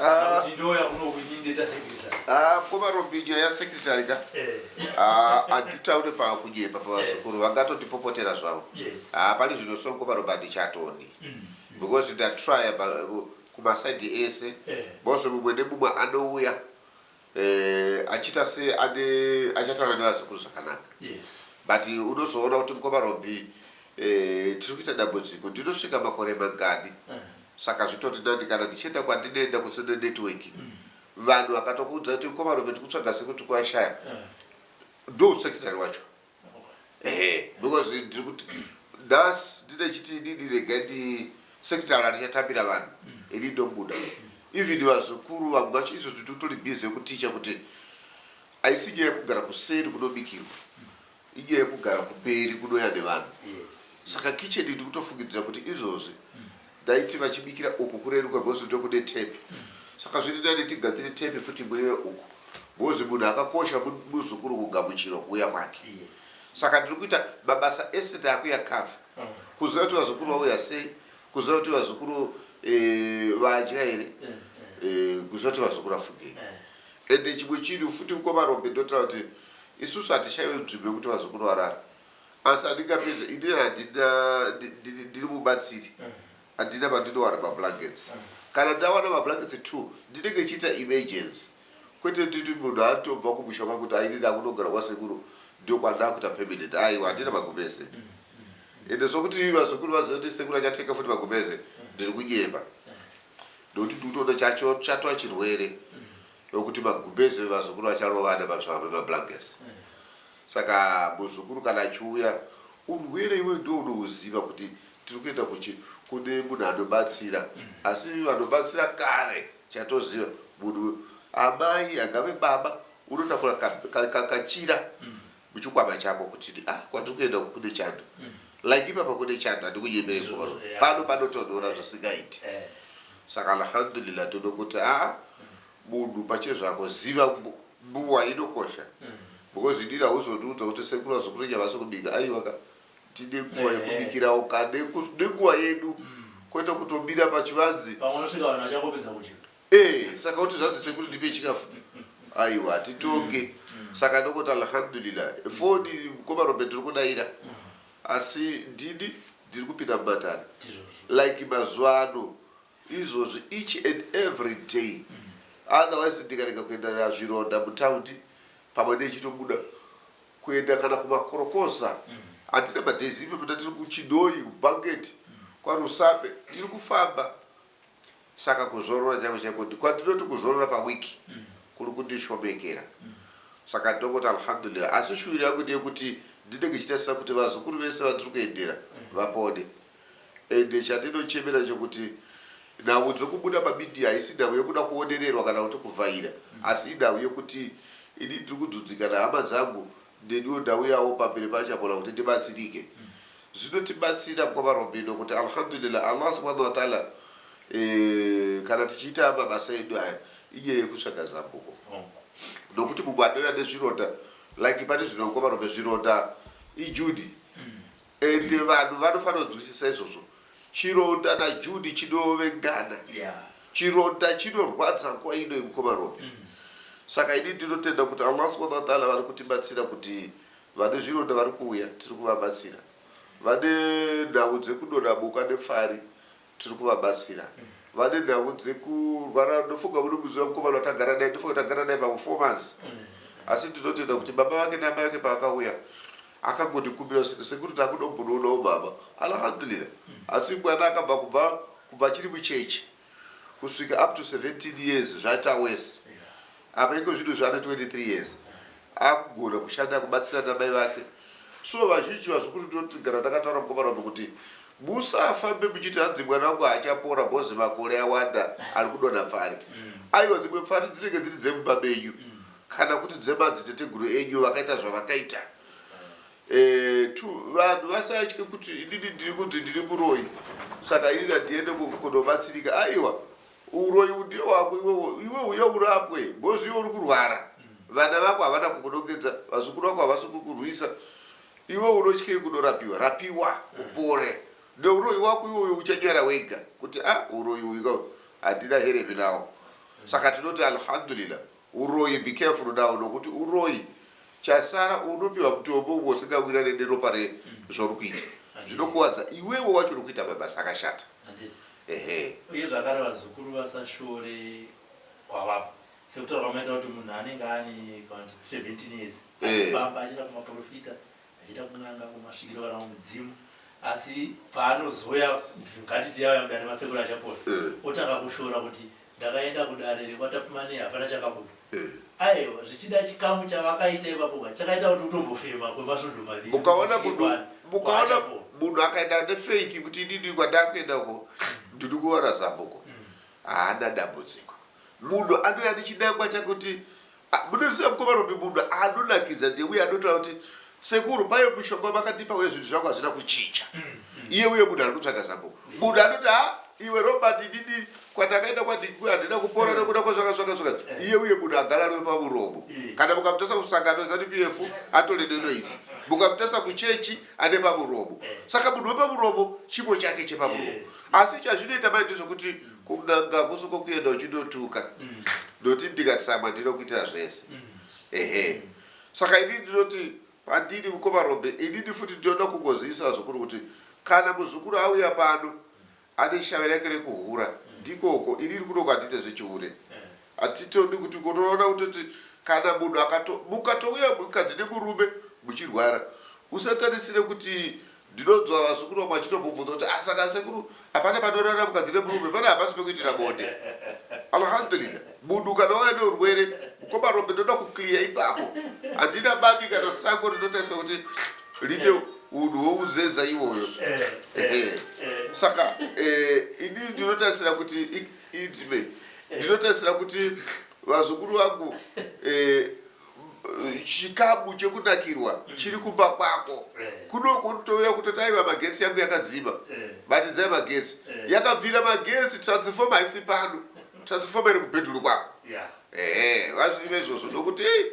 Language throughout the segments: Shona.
Ah. Kuti ndo yakuno kuti ndeta secretary. Ah, mkoma Robin nyaya secretary ka. Eh. Ah, anditaure pa kunyepa pa vasukuru vangatoti popotera zvavo. Yes. Ah, pali zvino so mkoma Robert chatoni. Mm. Because nda try ba kuma side ese. Eh. Boss mumwe nemumwe anouya. eh, achiita se ane achataura nevazukuru zvakanaka yes but unozoona kuti mukoma robi eh, tiri kuita dambudziko ndinosvika makore mangani eh. saka zvitori nani kana ndichienda kwandinoenda kusine network mm. vanhu vakatokuudza kuti mukoma robi tikutsvaga sekuti kwashaya eh. ndo usekitari wacho ehe because ndiri kuti nhasi ndine chiti didi rega ndi sekitala richatambira vanhu ini ndobuda even vazukuru vamwe vacho izvo titotori busy yekuticha kuti haisi nyaya yekugara kuseri kunobikirwa inyaya yekugara kumberi kunoya nevanhu saka kitchen ndikutofungidzira kuti izvozvi Ndaiti vachibikira uku kureruka because ndokude tape saka zviri nani tigadzire tape futi muive uku because munhu akakosha mu- muzukuru kugamuchirwa kuuya kwake saka ndiri kuita mabasa ese ndaakuya cover kuziva kuti vazukuru vauya sei kuziva kuti vazukuru eh, vadya here eh, kuziva kuti vazukuru afugei ende chimwe chinhu futi mukoma rombe ndotaura kuti isusu hatishaiwe nzvimbo yekuti vazukuru varara asi andingapedze ini handina ndiri mubatsiri handina pandinowana mablankets kana ndawana mablankets two ndinenge chiita emergency kwete titi munhu atobva kumusha kwa kuti aini ndakunogara kwasekuru ndokwandakuita permanent aiwa handina magumese ende sokuti vazukuru vaziva kuti sekuru achateka futi magumese ndiri kunyeba nokuti ndikutoona chacho chatwa chirwere nokuti magumese vevazukuru vacharovana mabsava vemablankets Saka muzukuru kana achiuya urwere iwe ndiwe unouziva kuti tiri kuenda kuchi kune munhu anobatsira asi vanobatsira kare chatoziva munhu amai angave baba unotakura ka, ka, ka, kachira muchikwama chako kuti ah kwatiri kuenda uku kune chando like ipapa kune chando handikunyemei kuvaro Izvozvo, yeah. pano panotonhora zvisingaiti Eh. saka alhamdulillah tinokuti aa munhu pachezvako ziva mbu- Buwa inokosha because inini hauzotiudza kuti sekuru vazokutonya vasi kubika aiwa ka tine nguva Ehe. yekubikirawo ka neku- nenguva yedu kwete kutomira pachivanzi Pamwe unosvika vanhu vachangopedza kudya. Eh, saka kuti zvanzi sekuru ndipe chikafu aiwa hatitonge saka ndokuti alhamdulillah foni mukoma robert tiri kudaira asi ndini ndiri kupinda mumatare Ndizvozvo. like mazuva ano Izvozvi each and every day otherwise ndikarega kuenda nazvironda mutaundi pamwe nechitobuda kuenda kana kumakorokoza handina madays ipapo ndatiri kuChinhoyi, kuBanket, kwaRusape ndiri kufamba saka kuzorora chaiko chaiko kwandinoti kuzorora paweek kuri kundishomekera saka ndongoti Alhamdulillah asi shuviro yangu ndeyekuti ndinenge ndichitarisa kuti vazukuru vese vandiri kuendera vapone. Ende chandinochemera chokuti nhau dzokubuda pamedia haisi nhau yokuda kuonererwa kana kuti kuvhaira asi inhau yokuti ini ndiri kudzudzika nehama dzangu neniwo ndauyawo pamberi pachakula kuti ndibatsirike. Zvinotibatsira mkwavaRobino kuti Alhamdulillah Allah Subhanahu wa Ta'ala kana tichiita mabasa edu aya inyaya yekutsvaga zambuko nokuti mumwe anouya nezvironda like pari zvino mkwavaRobino zvironda ijudi Ende vanhu vanofanira kunzwisisa izvozvo. Chironda na Judy chinovengana. Yeah. Chironda chinorwadza nguva ino yemukoma Robi. Mm. Saka ini ndinotenda kuti Allah subhanahu wa ta'ala vari kutibatsira kuti vane zvironda vari kuuya tiri kuvabatsira. Vane nhau dzekudonha boka nepfari tiri kuvabatsira vane nhau dzekurwara ndofunga munomuziva mukomana watagara naye ndofunga tagara naye pamwe four months asi ndinotenda kuti baba vake naamai vake paakauya akangondikumbira kuti sekuru takuda kumbonoonawo mama alhamdulillah asi mwana akabva kubva kubva achiri muchechi kusvika up to 17 years zvaita worse Apa iko zvinhu zvaane 23 years akugona kushanda kubatsira namai vake so vazhinji vazukuru tinotigara takataura mukomana umu kuti musafambe muchiti hanzi mwana wangu haachapora bhozi makore awanda ari kudonha pfari mm. aiwa dzimwe pfari dzinenge dziri dzemumba menyu mm. kana kuti dzemadziteteguru enyu vakaita zvavakaita mm. eh, t vanhu vasatye kuti inini ndiri kunzi ndiri muroyi saka inini handiende kunobatsirika aiwa Uroyi hudii hwako iwewe iwe huya urapwe because iwe uri kurwara vana vako havana kukunongedza vazukuru vako havasi kukurwisa iwe unotyei kunorapiwa rapiwa upore neuroyi wako iwe uyo uchanyara wega kuti a ah, uroyi uyu ka handina hereve nawo saka tinoti alhamdulillah Huroyi be careful now nokuti uroyi chasara unopiwa mutombo umwe usingawirirane neropa re zvauri kuita zvinokuwadza iwewe wacho uri kuita mabasa akashata Handiti. ehe Uye zvakare vazukuru vasashore kwavabva sekutaura kwamaita kuti munhu anenge ane kana kuti 17 years Eh. achifamba achienda kumaporofita Achiita kun'anga kumasvikiro kana kumudzimu asi paanozoya ngatiti yauya mudare masekuru achapora otanga kushora kuti ndakaenda kudare rekwaTapfumane hapana chakabuda. Aewa zvichida chikamu chavakaita ipapo ka chakaita kuti utombofema kwemasvondo maviri kuti Ukaona usvike munhu kwaari ukaona kwaachapora. munhu akaenda nefaith kuti inini kwandakuenda uko ndiri kuwana zambuko haana dambudziko. Munhu anouya ane chinangwa chake kuti munonziva mukoma Robi munhu anonakidza ndiye uye anotaura kuti sekuru payo mushonga wamakatipa uye zvinhu zvangu hazvina kuchinja mm, mm. iye uye munhu ari kutsvaga zambo munhu anoti ha iwe robert ndini kwandakaenda kwandikui handina kupora mm. nekuda kwazvaka zvaka zvaka iye uye munhu agara ariwe pamuromo kana mukamutasa kusangano zanu p f atore nenoisi mukamutasa kuchechi ane pamuromo saka munhu wepamuromo chipo chake chepamuromo asi chazvinoita mai ndezvekuti Kun'anga hakusi uko kuenda uchindotuka ndoti ndikatsamwa ndinokuitira zvese ehe saka inini ndinoti pandiri mukoma Rombe inini futi ndinoda kungozivisa vazukuru kuti kana muzukuru auya pano ane shave rake rekuhura ndiko uko inini kuno kwandine zvechihure Hatitodi kuti unoona kutoti kana munhu akato mukatouya mukadzi nemurume muchirwara usatarisire kuti ndinonzwa vazukuru vamwe vachitombobvunza kuti ah saka sekuru hapana panorara mukadzi nemurume pane hapasi pekuitira bonde alhamdulillah munhu kana wauya neurwere mukoma rombe ndoda kuclear ipapo handina bani kana sango rinotaisa kuti rite unhu wounzenza iwoyo Eh, eh, eh. saka eh, ini ndinotarisira kuti i- Idle. Ndinotarisira kuti vazukuru vangu eh, chikabu chekunakirwa chiri kumba kwako Eh. kunoko nditouya kutoti aiva magetsi yangu yakadzima Eh. batidzai magetsi Eh. yakabvira magetsi transformer haisi pano transformer iri kubhedhuru kwako Yeah. ehe vazive izvozvo ndokuti "Ei,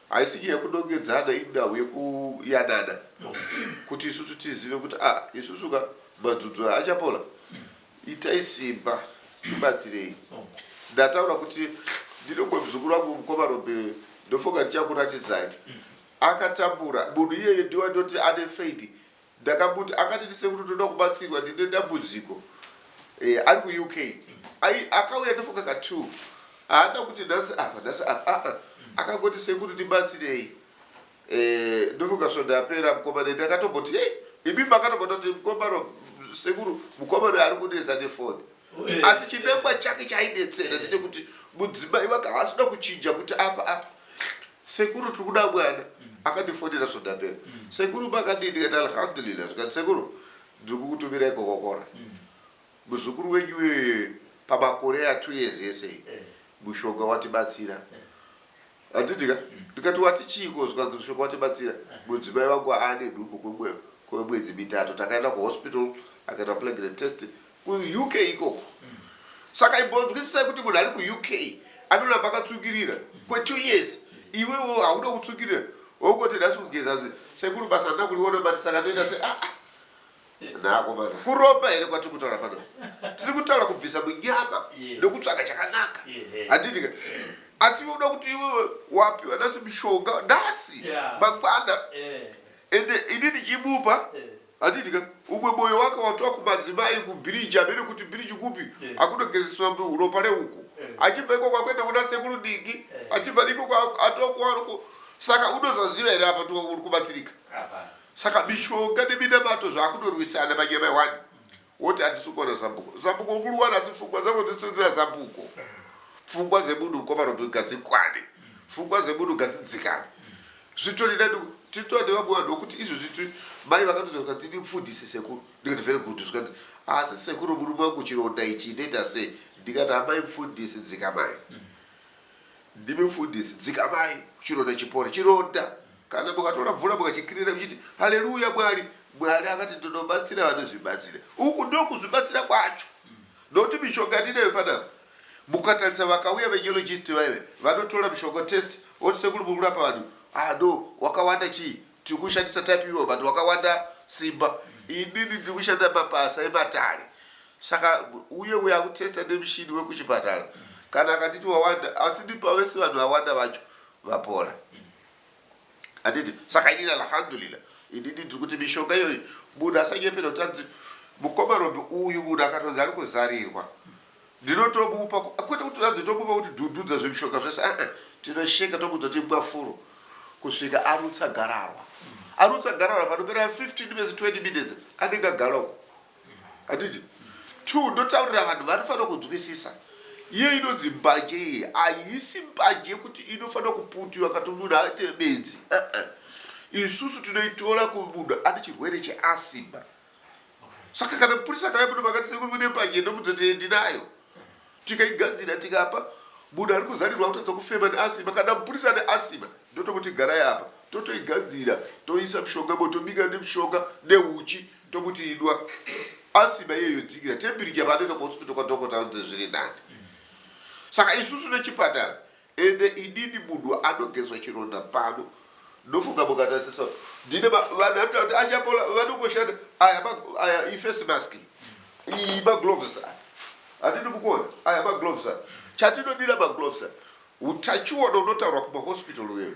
Haisi nyaya yekunongedzana indawu yekuyanana kuti isusu tizive kuti ah isusu ka madzudzu aya achapola itai simba tibatsirei ndataura kuti ndinongwe mzukuru wangu mukoma rombe ndofunga ndichakuratidzai akatambura munhu iyeye ndiwa ndoti ane faith Ndakamuti akanditi sekuru ndoda kubatsirwa ndine dambudziko eh, ari kuUK ai akauya ndofunga ka two haana kuti nhasi apa nhasi apa ah, ah. akangoti sekuru ndibatsirei eh, ndofunga svondo yapera mukoma nende akatomboti hey, imi makatombota kuti mukoma ro sekuru mukoma ro ari kunetsa nefoni Eh, asi chinangwa chake chaidetsera ndechekuti mudzimai wake haasina kuchinja kuti apa apa Sekuru tirikuda mwana akandifonera so ndapera sekuru makadii ndikati alhamdulillah zvikati sekuru ndirikukutumirai kokokora muzukuru wenyu uyuyu pamakore a two years ese iyi mushonga watibatsira handiti ka ndikati wati chiiko zvikanzi mushonga watibatsira mudzimai vangu aane nhumbu kwemwe- kwemwedzi mitatu takaenda kuhospital akaita plagrate test kuUK ikoko saka imbonzwisisai kuti munhu ari kuUK anoramba akatsvukirira kwetwo years iwewo hauda kutsvukirira wongoti nhasi kugeza zi sekuru basa handina kuriona but saka ndoita se aa naakomana kuromba here kwatiri kutaura pano tiri kutaura kubvisa munyama nekutsvaga chakanaka handiti ka asi iwe uda kuti iwewe wapiwa nhasi mushonga nhasi mangwana ende ini ndichimupa Handiti ka umwe moyo waka watwa kumadzimai kubiriji hameno kuti biriji kupi yeah. akunogezeswa ropa reuko yeah. achibva ikoko akuenda kuna sekuru dingi yeah. achibva ikoko atokuwaruko saka unozoziva here apa uri kubatsirika saka mishonga neminamato zvakunorwisana manyama wani Woti handisi kuwana zambuko. Zambuko ukuriwana asi pfungwa dzako dzisinzira zambuko. Pfungwa dzemunhu mukoma Robin ngadzikwane. Pfungwa dzemunhu ngadzidzikane. Zvitori nani titoa nevamwe vanhu vokuti izvo zviti mai vakatoita zvikanzi ini mfundisi sekuru ndikati very good zvikanzi asi sekuru murume wangu chironda ichi inoita sei ndikati amai mfundisi dzikamai Ndimi mfundisi dzikamai chironda chipore chironda kana mukatora mvura mukachikirira muchiti haleluya mwari mwari akati ndinobatsira vanozvibatsira uku ndokuzvibatsira kwacho nokuti mishonga ndinayo panapa mukatarisa vakauya vegeologist vaive vanotora mishonga test oti sekuru muri kurapa vanhu ah no wakawanda chii Tiri kushandisa type ivo but wakawanda simba. Inini ndiri kushanda mabasa ematare. Saka uye uya kutesta nemushini wekuchipatara kana akanditi wawanda asi ndipa vese vanhu vawanda vacho vapora. Anditi saka inini alhamdulillah inini ndiri kuti mishonga iyoyi munhu asanyepera kuti anzi mukoma Robe uyu munhu akatonzi ari kuzarirwa. Ndinotokupa kwete kuti hanzi tokupa kuti dududza zvimishonga zvese aa tinosheka tokuudza kuti imwa furo kusvika arutsa gararwa. Arutsa gararwa panopera 15 minutes 20 minutes anenge agara uko. Handiti? Two, ndotaurira vanhu vanofanira kunzwisisa. Iye inonzi mbanje iye haisi mbanje yekuti inofanira kuputiwa kati munhu aite bedzi aa. Isusu tinoitora kumunhu ane chirwere cheasima. saka kana mupurisa akauya muno makati sekuru mune mbanje ndomudza kuti ndinayo tikaigadzira tikapa munhu ari kuzarirwa kutadza kufema neasima kana mupurisa ane asima ndotokuti garai apa totoigadzira toisa mushonga mo tobika nemushonga neuchi tokuti idwa asima iye yodzikira tembiricha paanoenda kuhospital kwadhokota anzi zviri nani saka isusu nechipatara Ende inini munhu anogezwa chironda pano ndofunga mukatarisisa kuti ndine ma, vanhu anotaura kuti achapola vanongoshanda aya ma, aya ifesi mask iyi iyi magloves aya hatidi kukuona aya magloves aya chatinodira magloves aya utachiona unotaurwa kumahospital uyoyo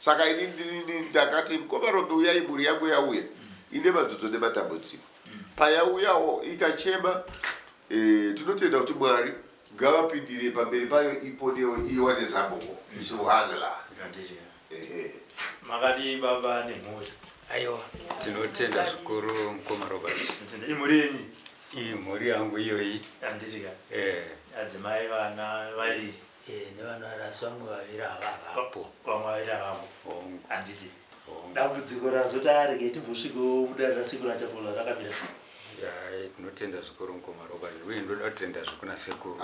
Saka ini ndini ndakati mkoma Rombe uyai mhuri yangu yauya ine madzodzo nematambudziko. Payauyawo ikachema eh, tinotenda kuti Mwari ngavapindire pamberi payo iponewo iwane zambuko. Subhanallah. Ehe. Makadii baba nemhuri? Aiwa. Tinotenda zvikuru mkoma Robert. Tinotenda. Imhuri yenyu? Iyi mhuri yangu iyoyi. Handitika. Eh. Adzimai vana vaviri. Eh, nevanorasi vamwe vaviri havavapo vamwe vaviri avavo Hongu. handiti Hongu. dambudziko razoti arege timbosvikewo mudare rasekuru achapola rakamira sei Ya, tinotenda zvikuru mukoma roba uye ndoda kutenda zvekuna sekuru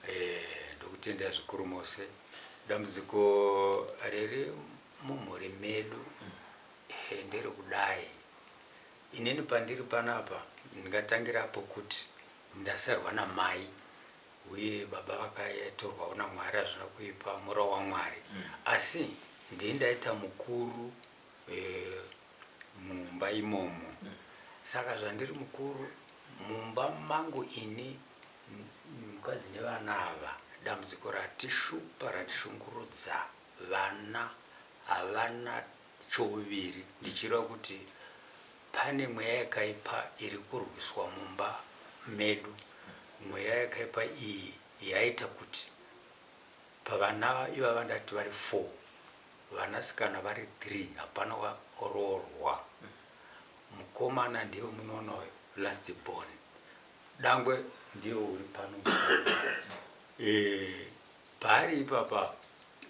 Eh, ndokutenda zvikuru mose dambudziko riri mumhuri medu eh, nderekudai inini pandiri panapa ndingatangira apo kuti ndasarwa namai Uye baba vakatorwawo naMwari hazvina kuipa mura waMwari asi ndiye ndaita mukuru mumba imomo saka zvandiri mukuru mumba mangu ini mukadzi nevana ava dambudziko ratishupa ratishungurudza vana havana Chouviri, ndichireva kuti pane mweya yakaipa iri kurwiswa mumba medu. Mweya yakaipa iyi yaita kuti pavana ivava vandati vari four, vanasikana vari three hapana waroorwa. Mukomana ndiye wamunoona uyo, last born. Dangwe ndiye uri pano. Eh, Paari ipapa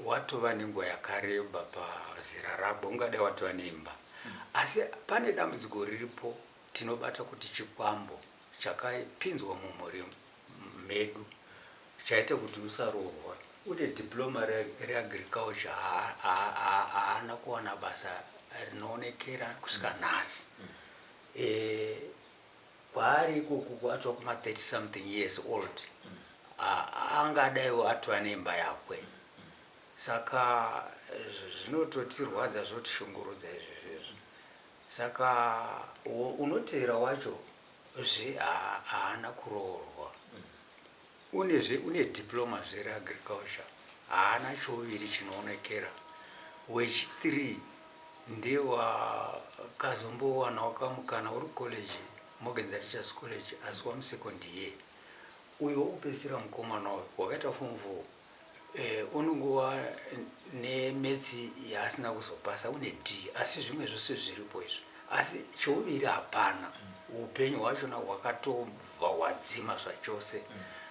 watova nenguva yakareba pazera rako ungadai watova neimba asi pane dambudziko riripo tinobata kuti chikwambo chakapinzwa mumhuri medu chaita kuti usaroorwa. Une diploma reAgriculture haana kuwana basa rinoonekera kusvika nhasi. kwaari ikoko atova kuma 30 something years old angadaiwo atova neimba yakwe saka zvinototirwadza zvotoshungurudza izvi zvezvo saka unoteera wacho zve haana kuroorwa Une zve une diploma zve re agriculture haana chouviri chinoonekera wechi three ndiye wakazombowanawo kamukana uri college Morgan's Teachers College asi wamu second year uyo wokupedzisira mukomana uyo wakaita form four unongova nemeths yaasina kuzopasa une d asi zvimwe zvose zviripo izvi asi chouviri hapana upenyu hwachona hwakatobva hwadzima zvachose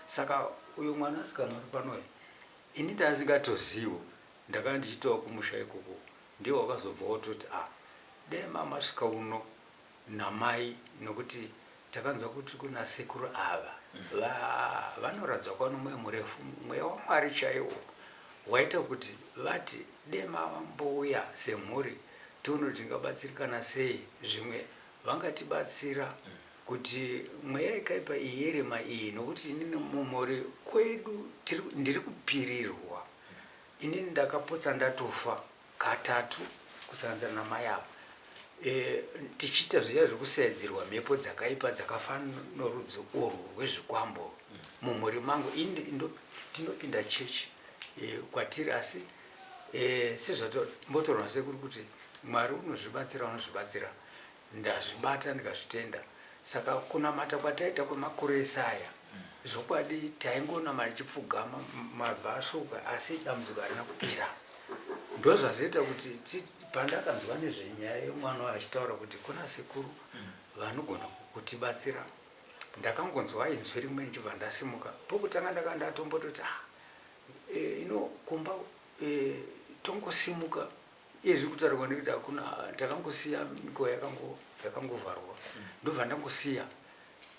saka uyo mwana asikana uri panoyo ini ndasingatozivo ndakanga ndichitova kumusha ikoko ndiye wakazobva wototi a ah, dai mamasvika uno namai nokuti takanzwa kuti kuna sekuru ava va, vanoratidza kuva nomweya murefu, mweya waMwari chaiwo waita kuti vati dai mambouya semhuri tione kuti tingabatsirikana sei, zvimwe vangatibatsira kuti mweya yakaipa iyi yerima iyi, nokuti inini mumhuri kwedu tiri, ndiri kupirirwa, inini ndakapotsa ndatofa katatu kusanganisira namai avo eeh tichiita zviya zvekusaedzerwa mhepo dzakaipa dzakafanana norudzi urwu rwezvikwambo mumhuri mangu ini ndinopinda church eeh kwatiri asi eeh sezvatombotaurwa nasekuru kuti Mwari unozvibatsira unozvibatsira Ndazvibata ndikazvitenda. Saka kunamata kwataita kwemakore ese aya zvokwadi taingonama tichipfugama mabva asvuuka asi dambudziko harina kupera. Ndozvazoita kuti pandakanzwa nezvenyaya yemwana uyu achitaura kuti kuna sekuru vanogona kutibatsira ndakangonzwa inzwi rimwe ndichibva ndasimuka. Pokutanga ndakanga ndatombototi ah eh, ino kumba eh, tongosimuka Iye zviri kutaurwa nekuti hakuna takangosiya mikowa yakango yakangovharwa ndobva ndangosiya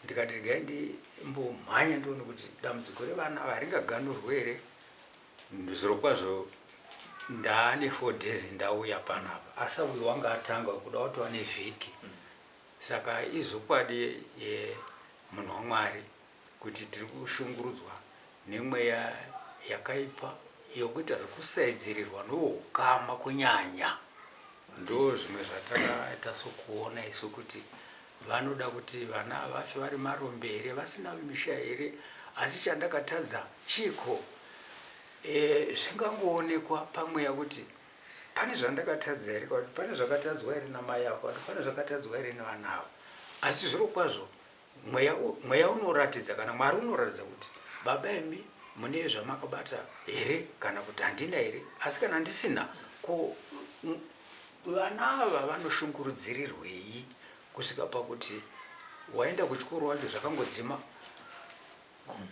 ndikati regai ndimbomhanya ndione kuti dambudziko revana ava haringaganurwe here zviro kwazvo ndaane four days ndauya panapa asi uyu wanga atanga kuda watova nevhiki saka izokwadi yemunhu wamwari kuti tiri kushungurudzwa nemweya yakaipa yokuita zvokusaidzirirwa novoukama kunyanya. Ndoo zvimwe zvatakaita sokuona isu kuti vanoda kuti vana vafe vari marombe here vasina misha here asi chandakatadza chiiko e, zvingangoonekwa pamweya kuti pane zvandakatadza here kana kuti pane zvakatadzwa here namai avo kana kuti pane zvakatadzwa here nevana avo asi zvirokwazvo Mweya, mweya unoratidza kana Mwari unoratidza kuti baba imi mune zvamakabata here kana kuti handina here asi kana ndisina ko vana ava vanoshungurudzirirwei kusvika pakuti waenda kuchikoro wacho zvakangodzima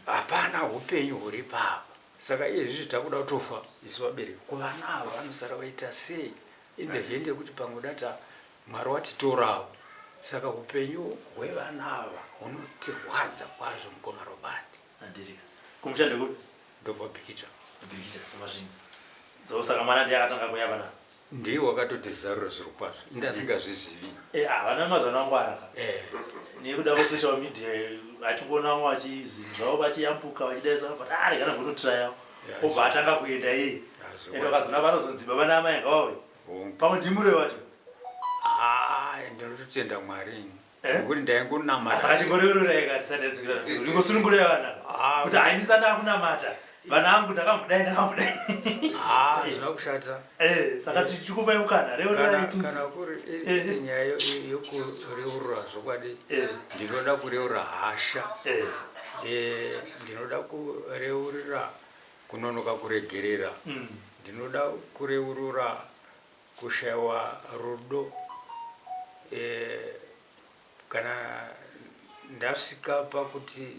hapana upenyu huri papa saka iye zvizvi takuda kutofa isu vabereki kuvana ava vanosara vaita sei Inge zviende kuti pamwe data Mwari watitorawo saka hupenyu hwevana ava hunotirwadza kwazvo mukoma Robert. Adiriga. Kumusha ndekupi? Ndobva Bikita. Bikita kumasvingo. So saka mwana ndiye akatanga kuya vana. Ndiye wakatotizarura zviro kwazvo. Inga asingazvizivi. Eh ah vana mazana angwara ka. Eh. Nekuda kwe social media achikuona vamwe vachizinzvawo vachiyambuka vachidaisa but ah regana kunotraya. obva atanga kuenda iye and vakazoona vanozodzimba vana amai anga vauya pamwe ndimure vacho ndinototenda mwari ini eh? nekuti ndaingonamatasaka chimboreurura ikati sati yadzikira ingosunungura yavana kuti haindisana akunamata vana angu ndakamudai ndakamudai zvinokushata Eh, saka tichikupai mukana reurai tinzwe. Kana kuri nyaya yokureurura zvokwadi ndinoda kureurura hasha. Eh. Eh, ndinoda kureurura kunonoka kuregerera. Mm. Ndinoda kureurura kushaiwa rudo. Eh, kana ndasvika pakuti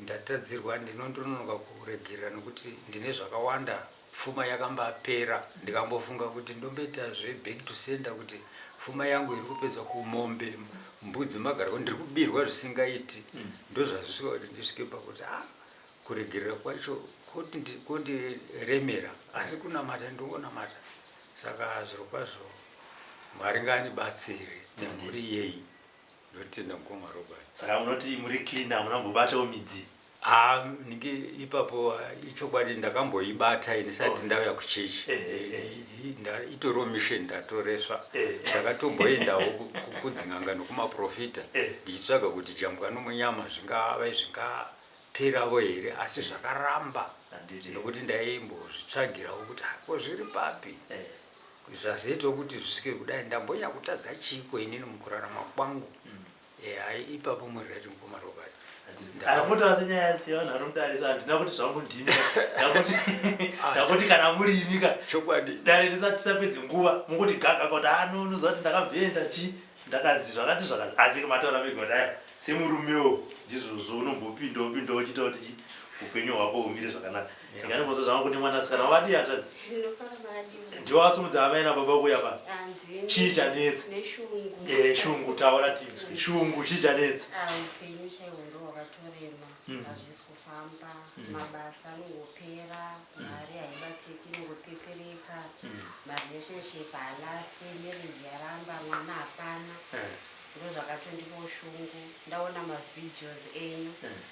Ndatadzirwa ndinondononoka kuregerera nokuti ndine zvakawanda pfuma yakambapera ndikambofunga kuti ndomboita zve back to sender kuti pfuma yangu iri kupedzwa kumombe mbudzi magarwe ndiri kubirwa zvisingaiti ndozvazvisvika kuti ndisvike pakuti ah kuregerera kwacho kondiremera asi kunamata ndongonamata saka zvirokwazvo mwari ngaanibatsire nemhuri yeyi Ndotenda mkoma Robert. Saka munoti muri clean hamuna kumbobatawo midzi? Haa ndinge ipapo ichokwadi ndakamboibata ndisati oh. ndauya kuchechi eh, eh, eh. itoriwo mission ndatoresva ndakatomboendawo kudzin'anga nokumaprofita ndichitsvaga kuti jambwa nomunyama zvingave zvingaperavo here asi zvakaramba nokuti ndaimbozvitsvagirawo kuti hako zviri papi zvazoitawo kuti zvisvike kudai ndambonya kutadza chiiko inini mukurarama kwangu mm. eha eh, ipapo murira chimukoma robert akambotaura senyaya sevanhu vanomutarisa handina kuti zvangu ndimi ndakuti ah, kana muri imika chokwadi dare tisapedze nguva mukuti gaga kuti ano ah, unoziva kuti ndakabvenda chii ndakanzi zvakati zvakati asi mataura megodaya semurumewo ndizvozvo unombopinda upinda uchita kuti upenyu hwako humire zvakanaka Ndinganimbozo zvangu kuti mwanasikana wadi hanzvadzi. Ndinofara madi. Ndiwo asumudza hama ina baba kuya pano. Hanzi. Chii chanetsa? Neshungu. Eh, shungu taura tinzwe. Shungu chii chanetsa? Ah, upenyu chaiwo ndo wakatorema. Mm. Hazvisi kufamba. Mm. Mabasa anongopera, mm. mari haibatiki inongopepereka. Mm. Marelationship halasti, marriage yaramba, mwana hapana. Eh. Ndozvakatondipo shungu. Ndaona mavideos enyu. Eh.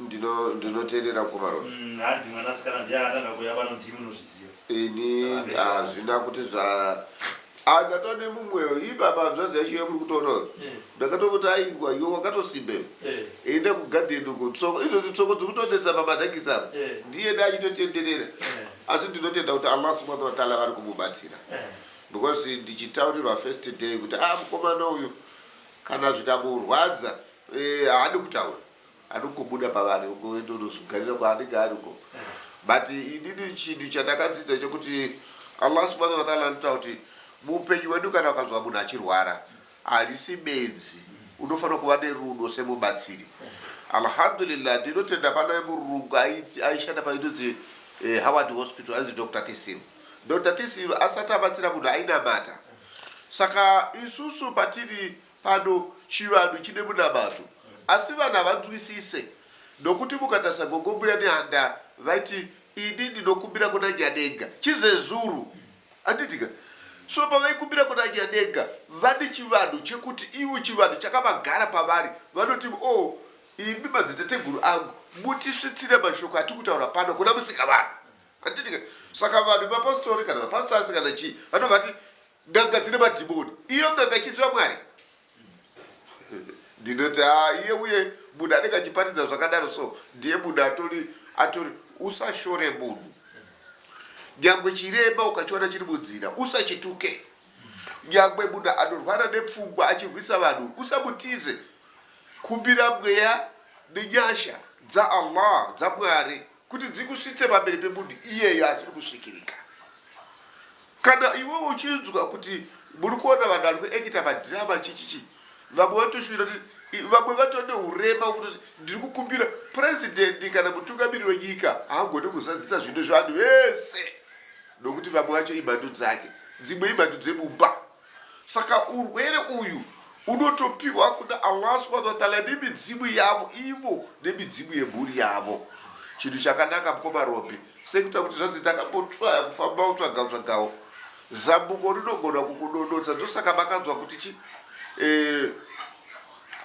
Ndino ndinoterera mkoma Roy. Mm, hanzi mwana sikana ndiye akatanga kuuya pano ndimi munozviziva. Ini hazvina kuti zva Ah ndatova nemumwewo ii baba hanzvadzi yacho iyo muri kutoona uyo. Eh. Ndakatomuti aiwa iwe wakatosimba iwe. Eh. Enda kugarden uko tsoko izvozvi tsoko dziri kutonetsa pamadhakisi apa. Eh. Ndiye dai achitotenderera. Eh. Asi ndinotenda kuti Allah subhanahu wa ta'ala vari kumubatsira. Eh. Because ndichitaurirwa first day kuti ah mukomana uyu kana zvikamurwadza eh, haadi kutaura. Anongobuda pavanhu uko oenda onozogarira kwaanenge ari uko. But inini chinhu chandakadzidza chekuti Allah subhana wa taala anotaura kuti muupenyu hwedu kana ukanzwa munhu achirwara harisi benzi unofanira kuva nerudo semubatsiri. Alhamdulillah ndinotenda pana murungu aishanda painonzi eh, Howard Hospital ainzi Dr. Kisiru. Dr. Kisiru asati abatsira munhu ainamata. Saka isusu patiri Pano chivanhu chine munamato asi vanhu havanzwisise nokuti mukatarisa gogo mbuya nehanda vaiti ini ndinokumbira kuna Nyanenga chizezuru handitika so pavaikumbira kuna Nyanenga vane chivanhu chekuti ivo chivanhu chakavagara pavari vanoti o oh, imi madziteteguru angu mutisvitsire mashoko atikutaura pano kuna musika vanhu handitika saka vanhu mapostori kana mapastors kana chii vanovati N'anga dzine madhimoni. Iyo n'anga ichiziva Mwari? Ndinoti haa iye uye munhu anenge achiparidza zvakadaro so ndiye munhu atori atori usashore munhu. Nyangwe chirema ukachiona chiri munzira usachituke. Nyangwe munhu anorwara nepfungwa achirwisa vanhu usamutize. Kumbira mweya nenyasha dzaAllah, dzaMwari. kuti dzikusvitse pamberi pemunhu iyeyo asiri kusvikirika kana iwe uchinzwa kuti muri kuona vanhu vari kuekita madhirama chichichi vamwe vatoshuvira kuti vamwe vatone urema kuti ndiri kukumbira purezidendi kana mutungamiri wenyika haagone kuzadzisa zvinhu zvevanhu vese nokuti vamwe vacho imhandu dzake dzimwe imhandu dzemumba Saka urwere uyu unotopiwa kuna Allah subhanahu wa ta'ala nemidzimu yavo ivo nemidzimu yemhuri yavo. Chinhu chakanaka mkoma Ropi sekuita kuti zvanzi ndakambotsvaya kufamba kutsvaga tsvagawo zambuko rinogona kukudonotsa ndosaka makanzwa kuti chi eh,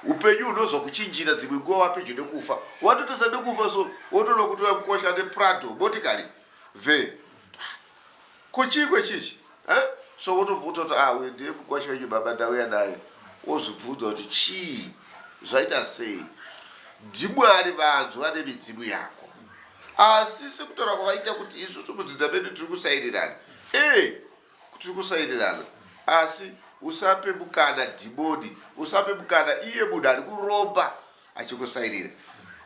upenyu hunozwa kuchinjira dzimwe nguva wapedyo nekufa watotesa nekufa so wotoda kutoya kukosha neprado motikari ve Ko chiiko ichichi huh? So wotobva utoti ah uyu ndiye mukwasha wenyu baba ndauya naye wozvibvunza kuti chii zvaita sei ndimwari vanzwa nemidzimu yako asi sekutaura kwavaita kuti isusu mudzidza medu tiri kusairirana ee tiri kusairirana asi usape mukana dhimoni usape mukana iye munhu ari kuromba achikusairira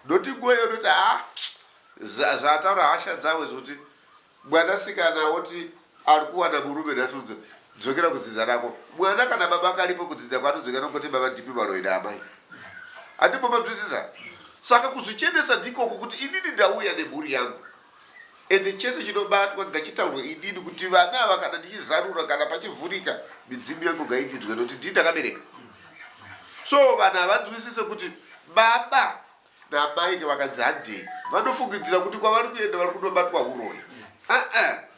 noti nguva iyo noti ha ah, zvataura hasha dzavo zvokuti Mwana sikana oti arikuwana murume nhasi dzokera kudzidza rako mwana kana baba karipo kudzidza kwaanodzokera kwete baba ndipi vanoida amai andimbomanzwisisa saka kuzvichenesa ndikoko kuti inini ndauya nemhuri yangu ende chese chinobatwa ngachitaurwe inini kuti vana ava kana ndichizarura kana pachivhurika midzimu yangu ngaindidzwe nokuti ndii ndakabereka so vanhu havanzwisise kuti baba Naamai vakadzi handei vanofungidzira kuti kwavari kuenda vari kunobatwa huroyi. Aa,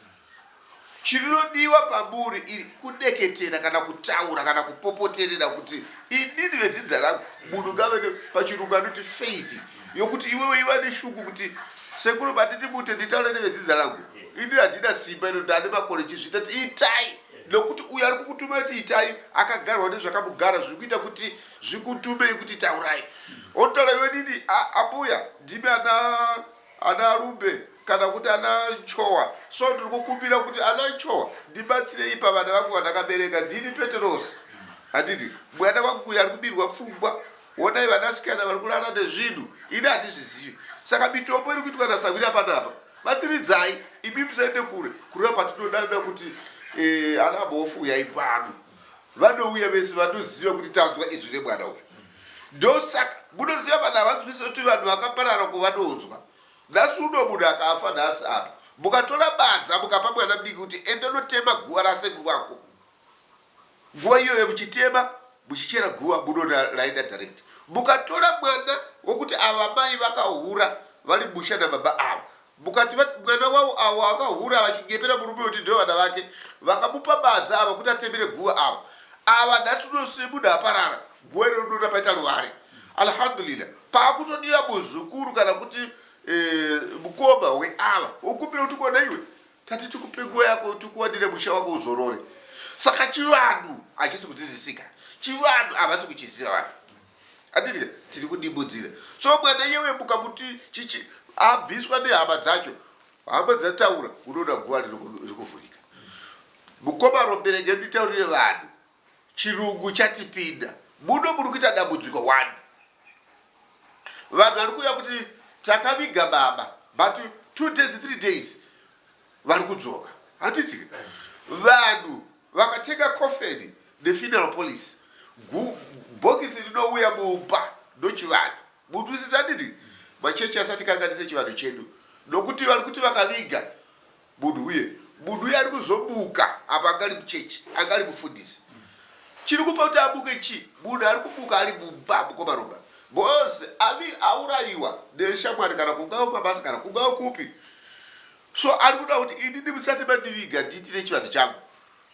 chinodiwa pamuri iri kudeketera kana kutaura kana kupopoterera kuti inini vedzinza rangu munhu ngave pachirungu anoti faith yokuti iwewe iva neshuku kuti sekuru banditi mute nditaure nevedzinza rangu ini handina simba ino ndane makore chizvita ti itai nokuti uyo ari kukutuma kuti itai akagarwa nezvakamugara zviri kuita kuti Zvikutumei kuti taurai. Otala iwe didi ambuya ndimi ana ana Rumbe kana kuti ana Chowa. So ndiri kukumbira kuti ana Chowa ndibatsirei pavana vangu vandakabereka ndini Peterosi. Handiti mwana wangu uyu ari kubirwa pfungwa. Honai vanasikana vari kurara nezvinhu ini handizvizivi. Saka mitombo iri kuitwa nasahwira panapa batsiridzai imi musaende kure kureva patinodanira kuti eh, ana bofu uyai pano. vanouya vese vanoziva kuti tanzwa izwi remwana uyu ndosaka munoziva vanhu havanzwise kuti vanhu vakaparara kuvanonzwa nhasi uno munhu akafa nhasi apa mukatora badza mukapa mwana mudiki kuti enda unotema guva rasekuru vako nguva iyoyo muchitema muchichera guva munoda raenda direct mukatora mwana wokuti ava mai vakahura vari musha nababa ava Mukati vati mwana wavo avo akahura vachinyepera murume wekuti ndivo vana vake vakamupa badza ava kuti atemere guva ava ava nhasi uno semunhu aparara guva iro rinoona paita ruvare alhamdulillah pakutodiwa muzukuru kana kuti eh, mukoma weava wokumbira kuti kona iwe tati tikupe nguva yako tikuwanire musha wako uzorore saka chivanhu hachisi kudzidzisika chivanhu havasi kuchiziva vanhu Adidya tiri kudibudzira so mwana iye wemuka kuti chichi abviswa nehama dzacho hama dzataura unoona guva riri kuvhurika mukoma rombere nyanditaurire vanhu chirungu chatipinda muno muri kuita dambudziko one vanhu vari kuuya kuti takaviga baba but two days three days vari kudzoka handitika vanhu Vakatega coffin the funeral police gu bhokisi rinouya mumba ndochivanhu munzwisisa handiti machechi asati kanganise chivanhu chedu nokuti vari kuti vakaviga munhu uye munhu uye ari kuzomuka apa anga ari muchechi anga ari mufundisi chiri kupa kuti amuke chi munhu ari kumuka ari mumba mukoma roba bcause avi aurayiwa neshamwari kana kungawo mabasa kana kungawo kupi So ari kuda kuti inini musati mandiviga ndiitire chivanhu changu.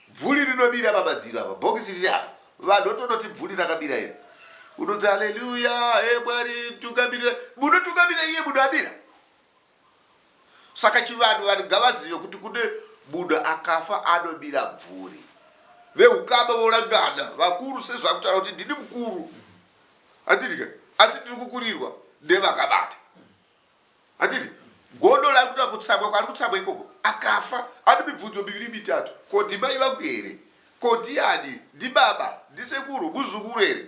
Bvuli rinomira pamadziro apa, bhokisi riri apa. Vanhu votonoti bvuli rakamira iri. Unonzi haleluya, he Mwari tungamirira. Munotungamirira iye munhu amira. Saka chivanhu vanhu ngavazive kuti kune munhu akafa anomira bvuri. Vehukama volangana vakuru sezvakutaura kuti ndini mukuru. Handidike asi ndiri kukurirwa nevakabata. Handiti godo lari kuda kutsagwa kwari kutsagwa ikoko akafa ati mibvunzo miviri mitatu ko ndimai vangu here ko ndiani ndibaba ndisekuru muzukuru here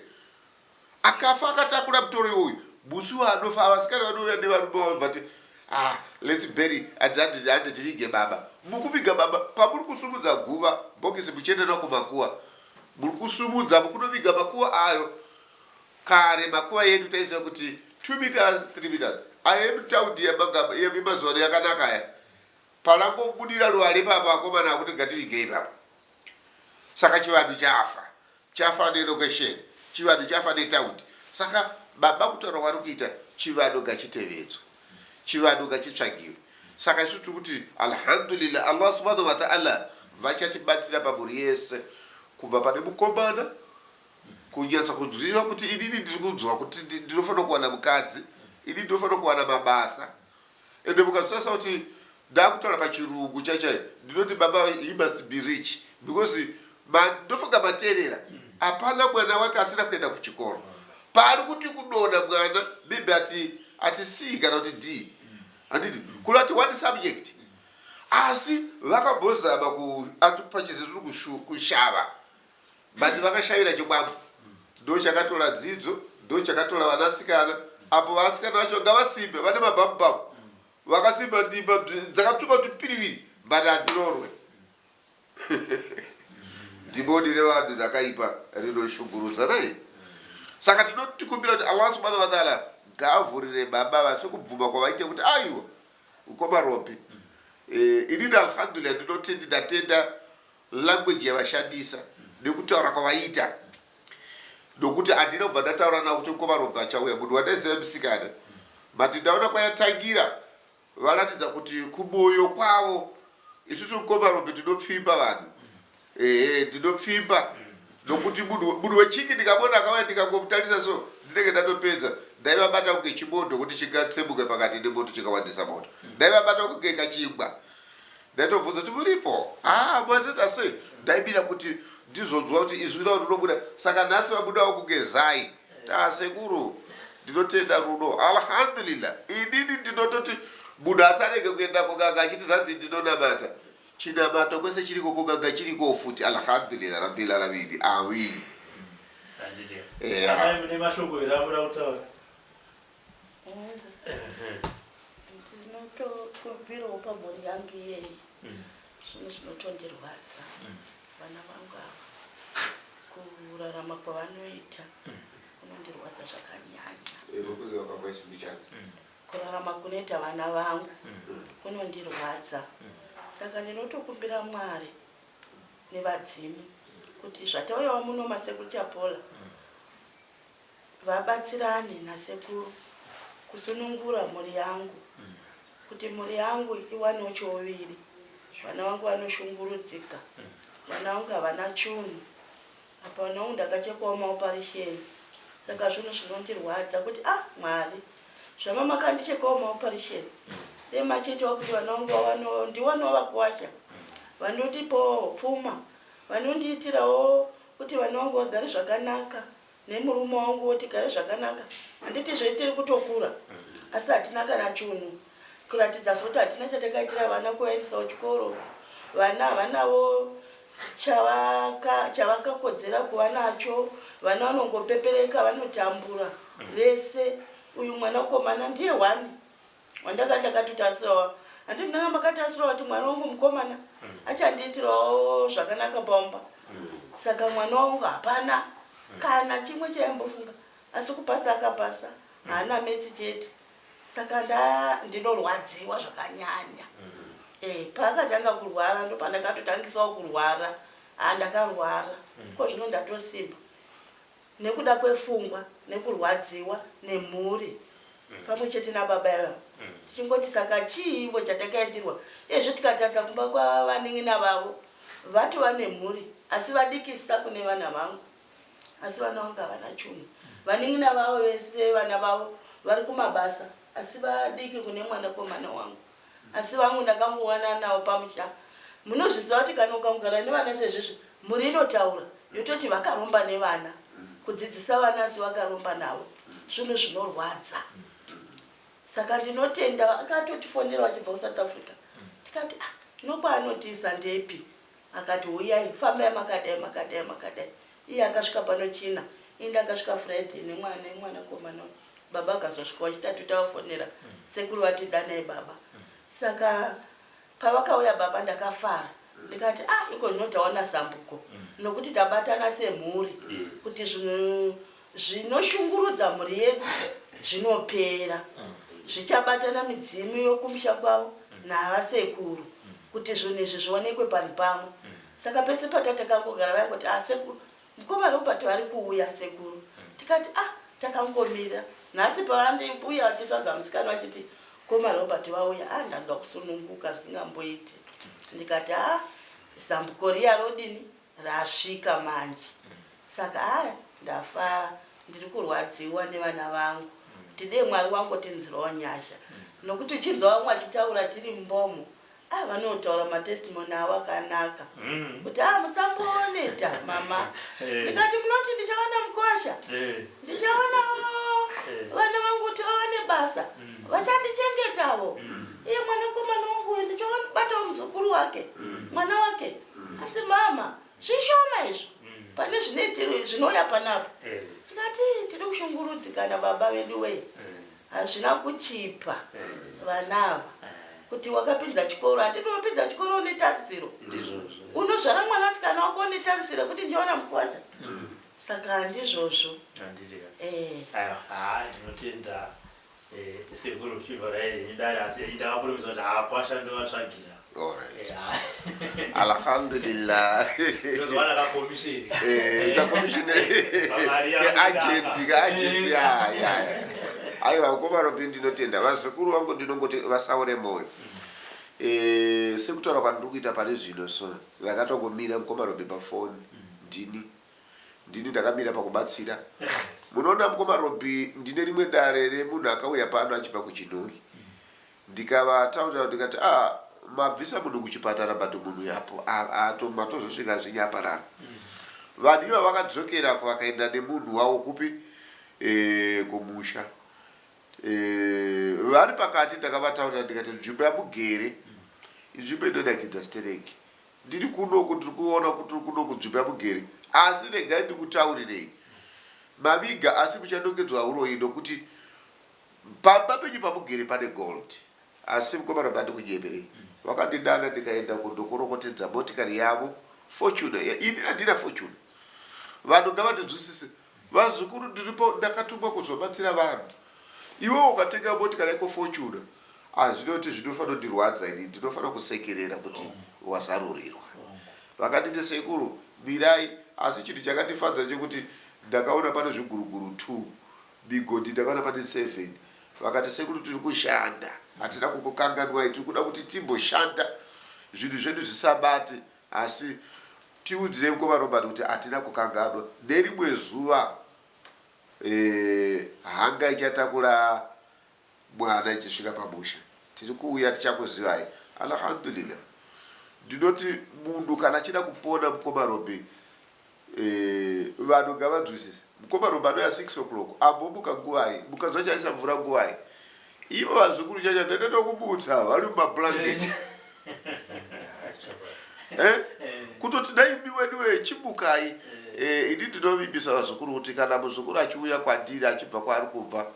akafa akatakura mutoro iwoyu musi waanofa avasikana vanouya nevarume vavo vati ah, lets bury hande tivige baba mukuviga baba pamuri kusumudza guva bhokisi muchienda nako makuwa muri kusumudza mukunoviga makuwa ayo Kare makuva edu taiziva kuti two meters three meters aya emutaudi emazuvano yakanaka aya parangobudira ruware ipapo akomana akuti ngativige ipapo saka chivanhu chafa chafa nelocation chivanhu chafa netaudi saka baba kutaura kwari kuita chivanhu ngachitevedzwa chivanhu ngachitsvagiwe saka isu tiri kuti alhamdulillah allah subhanahu wataala vachatibatsira pamhuri yese kubva pane mukomana Kunyatsa kuziva kuti inini ndiri kunzwa kuti ndinofanira kuwana mukadzi, inini ndinofanira kuwana mabasa ende mukazosasa kuti ndakutaura pachirungu chai chai ndinoti baba he must be rich because ndofunga materera hapana mwana wake asina kuenda kuchikoro paari kuti kudona mwana maybe ati ati c kana kuti d handiti kuda kuti one subject asi vakambozama kuatupa chizezuru kushava but vakashavira chikwambo ndo chakatora dzidzo ndo chakatora vanasikana apo vasikana vacho vanga vasimbe vane mabhabhubhabhu vakasimba ndimba bzi- dzakatsvuka tupiriviri but hadzirorwe dhimoni revanhu rakaipa rinoshungurudza naye saka tinotikumbira kuti allah subhanahu wataala ngaavhurire baba vase kubvuma kwavaite kuti aiwa ukoma ropi Eh, inini alhamdulillah ndinoti ndatenda Language yavashandisa nekutaura kwavaiita nokuti handina kubva ndataura navo kuti nkovaRobe achauya. Munhu wandaiziva musikana but ndaona kwayatangira varatidza kuti kumoyo kwavo isusu nkovaRobe tinopfimba vanhu ehe ndinopfimba nokuti munhu munhu wechiki ndikamuona akauya ndikangomutarisa so ndinenge ndatopedza ndaivabata kunge chimoto kuti chingatsemuke pakati nemoto chikawandisa moto ndaivabata kunge kachingwa Ndaitobvunza kuti muripo haa mazet asi ndaibira kuti ndizonzwa kuti izwi ravo rinobuda saka nhasi vabudawo kugezai taa sekuru ndinotenda rudo alhamdulillah inini ndinototi munhu asi arege kuenda kuganga achiti zvanzi ndinonamata chinamato kwese chiriko kuganga chiriko futi alhamdulillah rabbil alamini awini Handiti. Yeah. Amai mune mashoko here amura kutaura? ndinotobirawo pamhuri yangu iyeyi mm. zvinhu zvinotondirwadza mm. vana vangu ava kurarama kwavanoita mm. kunondirwadza zvakanyanya kurarama kunoita vana vangu kunondirwadza saka ndinotokumbira mwari nevadzimu kuti zvatauyawo muno masekuru chapola vabatsirane nasekuru kusunungura mhuri yangu kuti mhuri yangu iwanewo chouviri vana vangu vanoshungurudzika vana vangu havana chunhu apa vana vangu ndakachekwawo maoparisheni saka zvinhu zvinondirwadza kuti ah mwari zvama makandichekawo maoparisheni dei machiitawo kuti vana vangu vawanewo ndiwanewo vakuwasha vanondipawo pfuma vanondiitirawo kuti vana vangu vagare zvakanaka nemurume wangu tigare zvakanaka handitizve tiri kutokura asi hatina kana chunhu kuratidza zoti hatina chatakaitira vana kuvaendisawo chikoro vana havanavo chavakakodzera kuva nacho vana vanongopepereka vanotambura vese uyu mwanakomana ndiye one wandanga ndakatotarisirawo handi ndanga makatarisirawo kuti mwana wangu mukomana achandiitirawo zvakanaka pamba saka mwana wangu hapana kana chimwe chaimbofunga asi kupasa akapasa haana mesi chete saka nda ndinorwadziwa zvakanyanya e, paakatanga kurwara ndopandakatotangisawo kurwara handakarwara ko zvino ndatosimba nekuda kwefungwa nekurwadziwa nemhuri pamwe chete nababa ivavo tichingoti saka chii ivo chatakaitirwa uyezve tikatarisa kumba kwavanin'ina vavo vatova nemhuri asi vadikisa kune vana vangu asi vana vangu havana chunhu vanin'ina vavo vese vana vavo vari kumabasa asi vadiki kune mwanakomana wangu Asi vangu ndakangowanana navo pamusha. Munozviziva kuti kana ukangogara nevana sezvizvi mhuri inotaura yototi vakaromba nevana. Kudzidzisa vana asi vakaromba navo zvinhu zvinorwadza. Saka ndinotenda vakatotifonera vachibva kuSouth Africa tikati ah no kwaanotiisa ndepi akati huyai fambai makadai makadai makadai Iye akasvika pano China ende akasvika Friday nemwa nemwanakomana uyu baba akazosvika wachitatu tavafonera sekuru vati danai baba saka pavakauya baba ndakafara ndikati ah iko zvino tawana zambuko nokuti tabatana semhuri kuti zvinhu zvinoshungurudza mhuri yedu zvinopera zvichabatana midzimu yokumusha kwavo navasekuru kuti zvinhu izvi zvionekwe panhu pamwe Saka pese patatangangogara vaingoti ah sekuru mukoma Robert vari kuuya sekuru tikati ah takangomira nhasi pavandibuya vachitsvaga musikana vachiti mukoma Robert vauya ah ndanzwa kusununguka zvisingamboiti ndikati ah zambuko riya rodini rasvika manje saka haya ndafara ndiri kurwadziwa nevana vangu kuti dee mwari wangotinzwirawo nyasha nokuti uchinzwa vamwe vachitaura tiri mbomo Ah vanotaura ma testimony avo akanaka kuti ah musambooneta mama ndikati munoti ndichawana mukosha ndichawana vana vangu kuti vawane basa vachandichengetavo iye mwanakomana wangu uyu ndichawanibatawo muzukuru wake mwana wake asi mama zvishoma izvo pane zvine zvinouya panapa ndikati tiri kushungurudzikana baba vedu wee Hazvina kuchipa vana ava kuti wakapinza chikoro hatiti wapinza chikoro une tarisiro unozvara mwana sikana wako une tarisiro kuti ndiwana mukwadza mm. saka handizvozvo eh. ah, ndinotenda eh, sekuru fiva raenyu dare asi ndakakurumisa kuti haakwasha ndovatsvagira alhamdulillah aiwa vakomana kuti ndinotenda vazukuru vangu ndinongoti vasaure moyo eh, sekutaura kwandiri kuita pari zvino so ndakatongomira mukomana robe pafoni ndini ndini ndakamira pakubatsira munoona mukomana robe ndine rimwe dare remunhu akauya pano achibva kuchinoi Ndikavataurirawo ndikati ah mabvisa munhu kuchipatara but munhu uyu apo ato matozosvika zvinyambarara. Vanhu ivo vakadzokera vakaenda nemunhu wavo kupi eeh kumusha. Eeh vari pakati ndakavataurira ndikati nzvimbo yamugere inzvimbo inonakidza sterek. Ndiri kuno uku ndiri kuona kuti uri kuno kunzvimbo yamugere asi regai ndikutaurirei maviga asi muchanongedzwa huroyi nokuti. Pamba penyu pamugere pane gold. Asi mkomana ngandikunyeperei vakandidana ndikaenda uko ndokorokotedza motikari yavo Fortuner iya ini andina Fortuner vanhu ngavandinzwisise vazukuru ndiripo ndakatumwa kuzobatsira vanhu iwewe ukatenga motikari yako Fortuner hazvina kuti zvinofana kundirwadza ini ndinofana kusekerera kuti wazarurirwa vakanditi sekuru mirai asi chinhu chakandifadza chekuti ndakaona pane zviguruguru two Migodhi ndavana vane seven vakati sekuru tiri kushanda hatina kukukanganwai tiri kuda kuti timboshanda zvinhu zvedu zvisabate asi tiudzirei ko vaRobert kuti hatina kukanganwa nerimwe zuva eh, hanga ichatakura mwana ichisvika pamusha tiri kuuya tichakuzivai Alhamdulillah ndinoti munhu kana achida kupona mkoma Robbie Eeh vanhu ngavanzwisise mkoma Robbie anouya 6 o'clock ambomuka nguvai mukanzwa chaisa mvura nguvai ivo vazukuru chacha ndatoda kumutsa vari mumablanket eh kutoti dai imi weduwe chimukai Eh, ini ndinovimbisa vazukuru kuti kana muzukuru achiuya kwandiri achibva kwaari kubva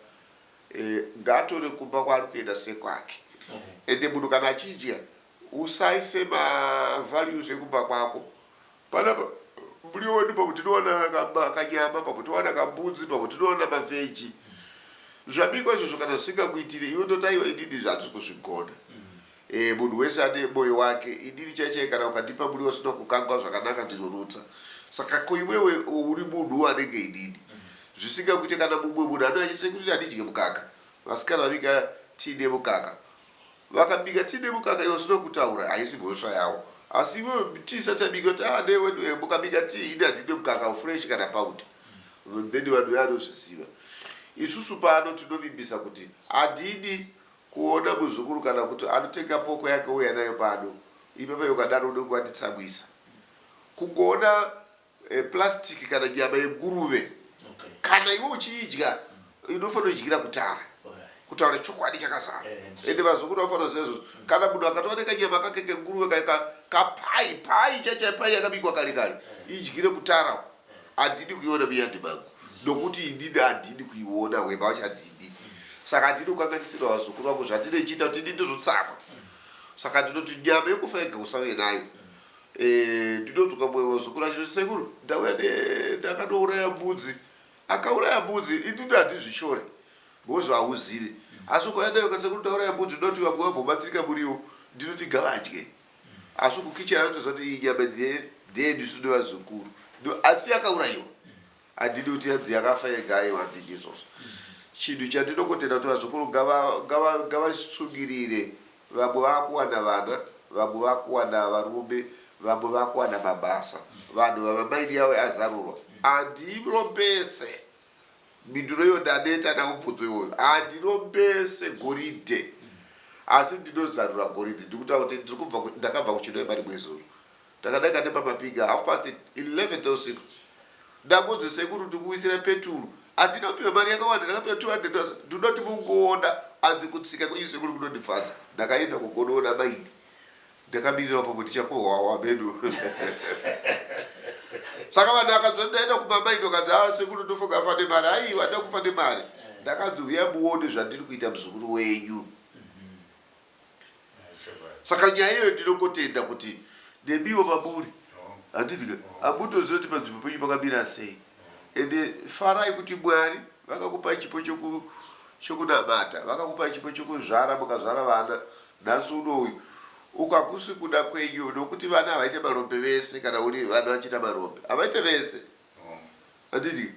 Ngaatore kumba kwaari kuenda sekwake ende munhu kana achidya usaise ma values ekumba kwako. Panapa mbuya wedu pamwe tinowana kanyama pamwe towana kambudzi pamwe tinowana ma veggie. Zvabikwa izvozvo kana zvisingakuitire iwe unoti aiwa inini izvi handisi kuzvigona. Eeh munhu wese ane moyo wake inini chai chai kana ukandipa muriwo usina kukangwa zvakanaka ndinorutsa saka ko iwewe uri munhuwo anenge inini zvisinga kuite kana mumwe munhu anouya achiti sekuru inini handidye mukaka vasikana vabika tii nemukaka vakabika tii nemukaka iwe usina kutaura haisi mhosva yawo asi iwewe tii isati yabika kuti ah newe eh, mukabika tii ini handidye mukaka ufresh kana paut then vanhu veanozviziva isusu pano tinovimbisa kuti adidi Kuona muzukuru kana kuti anotenga poko yake ouya nayo pano ipapa iwe ukadaro unenge wanditsamwisa. Kungoona plastic kana nyama yenguruve kana iwe uchiidya inofanira kudyira kutara kutaura chokwadi chakazara ende vazukuru vanofanira kuziva izvozvo. Kana munhu akatova nekanyama kake kenguruve kaye kapai pai chaichaipai yakabikwa kare kare idyire kutara uko. handidi kuiona miyandi mangu nokuti inini handidi kuiona hwema wacho handidi saka ndinokanganisira vazukuru vangu zvandine ichiita kuti ini ndizotsamwa saka ndinoti nyama yekufa yega usave nayo eh, ndinodzoka mumwe vazukuru achiti sekuru ndauya ndakanouraya mbudzi akauraya mbudzi inini handizvishore ngozi hauzivi asi ukauya nayo kasekuru ndauraya mbudzi ndinoti vamwe vambobatsirika muriwo ndinoti ngavadye asi kukicheni anotoziva kuti iyi nyama ndeyedu isu nevazukuru asi yakaurayiwa handidi kuti yanzi yakafa yega aiwa handidi izvozvo chinhu chandinongotenda kuti vazukuru ngavasungirire vamwe vakuwana vana vamwe vakuwana varume vamwe vakuwana mabasa vanhu vamamaini yawo azarurwa andirombese Mhinduro iyo ndaneta namubvunzo iwoyo. Handirombese goridhe asi ndinozarura goridhe. Ndiri kutaura kuti ndiri kubva ku- ndakabva kuChinhoyi mari mwezuru. Ndakadaika nepamapinga half past 11 dzeusiku. Ndakunzi sekuru ndikuwisira peturu. Handinopiwa mari yakawanda ndakapiwa 200 dollars. Ndinoti mungoona hanzi kutsika kwenyu sekuru kunondifadza. Ndakaenda kugonoona maini. Ndakabirira upo kuti chakuhwawa medu. Saka vanhu vakanzwa ndaenda kumama indokanzi ah sekuru ndofunga afa nemari. Aiwa handina kufa nemari. Ndakanzi huya muone zvandiri kuita muzukuru wenyu. Saka nyaya iyoyo ndinongotenda kuti nemiwo mamuri handiti ka hamutoziva kuti panzvimbo penyu pakamira sei ende farai kuti mwari vakakupai chipo choku- chokunamata vakakupai chipo chokuzvara mukazvara vana Nhasi uno uyu uku hakusi kuda kwenyu nokuti vana havaite marombe vese kana uri vana vachiita marombe havaite vese handiti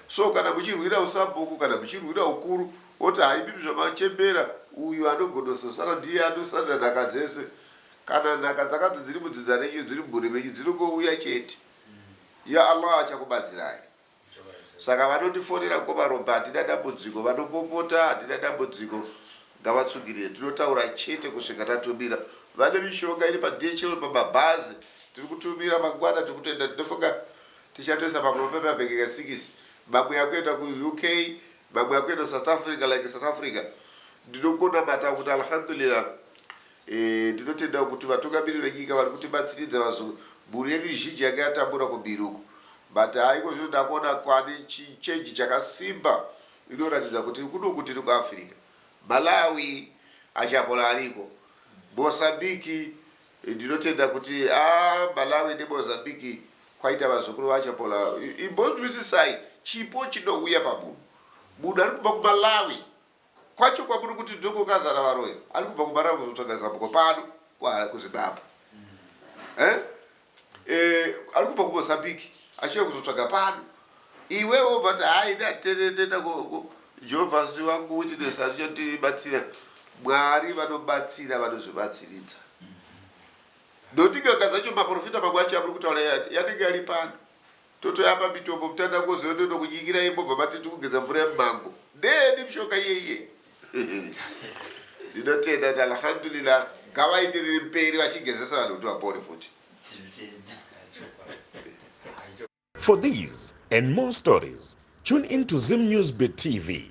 so kana muchirwira usabhuku kana muchirwira ukuru woti haimimi zvamachembera uyu anogonososara ndiye anosarira nhaka dzese kana nhaka dzakanzi dziri mudzinza renyu dziri mumhuri menyu dzinongouya chete ya Allah achakubatsirai Saka vanotifonera mkoma Ropa hatina dambudziko vanopopota hatina dambudziko ngavatsungirire tinotaura chete kusvika tatumira vane mishonga iri paDHL pamabhazi tiri kutumira mangwana tiri kutoenda tinofunga tichatoisa mamwe pemabhegi ka 6 mamwe akuenda kuUK mamwe akuenda South Africa like South Africa ndinongonamata kuti alhamdulillah Eeh ndinotendawo kuti vatungamiri venyika vari kutibatsiridza vazukuru mhuri yedu zhinji yanga yatambura kumhiri uko but haa ikozvino ndakuona kwane chi change chakasimba inoratidza kuti kunoku tiri ku Africa Malawi Achapola ariko Mozambique ndinotenda kuti haa Malawi ne Mozambique kwaita vazukuru va Achapola imbonzwisisai chipo chinouya pamunhu munhu ari kubva ku Malawi Kwacho kwamuri kuti ndiko kwakazara varoyi. Ari kubva kuMbara kuzotsvaga zambuko pano kuHarare kuZimbabwe. Eh? Eh, ari kubva kuMozambique achiuya kuzotsvaga pano. Iwewe wobva kuti hayi ini handiterere ndoenda ku, ku Jehovha si wangu witness anichandibatsira. Mwari vanobatsira vanozvibatsiridza. Nokuti n'anga dzacho maprofita mamwe acho amuri kutaura ya- yanenge ari pano. Totouya pamitopo mutanda koziva ndoda kunyikira iye mobva mati tikugeza mvura yemumango. Ndeyeni mishonga iye iye? Ndinotenda kuti alhamdulillah ngavaite riri mberi vachigezesa vanhu kuti vapore futi. For these and more stories, tune in to ZimNewsBeat TV.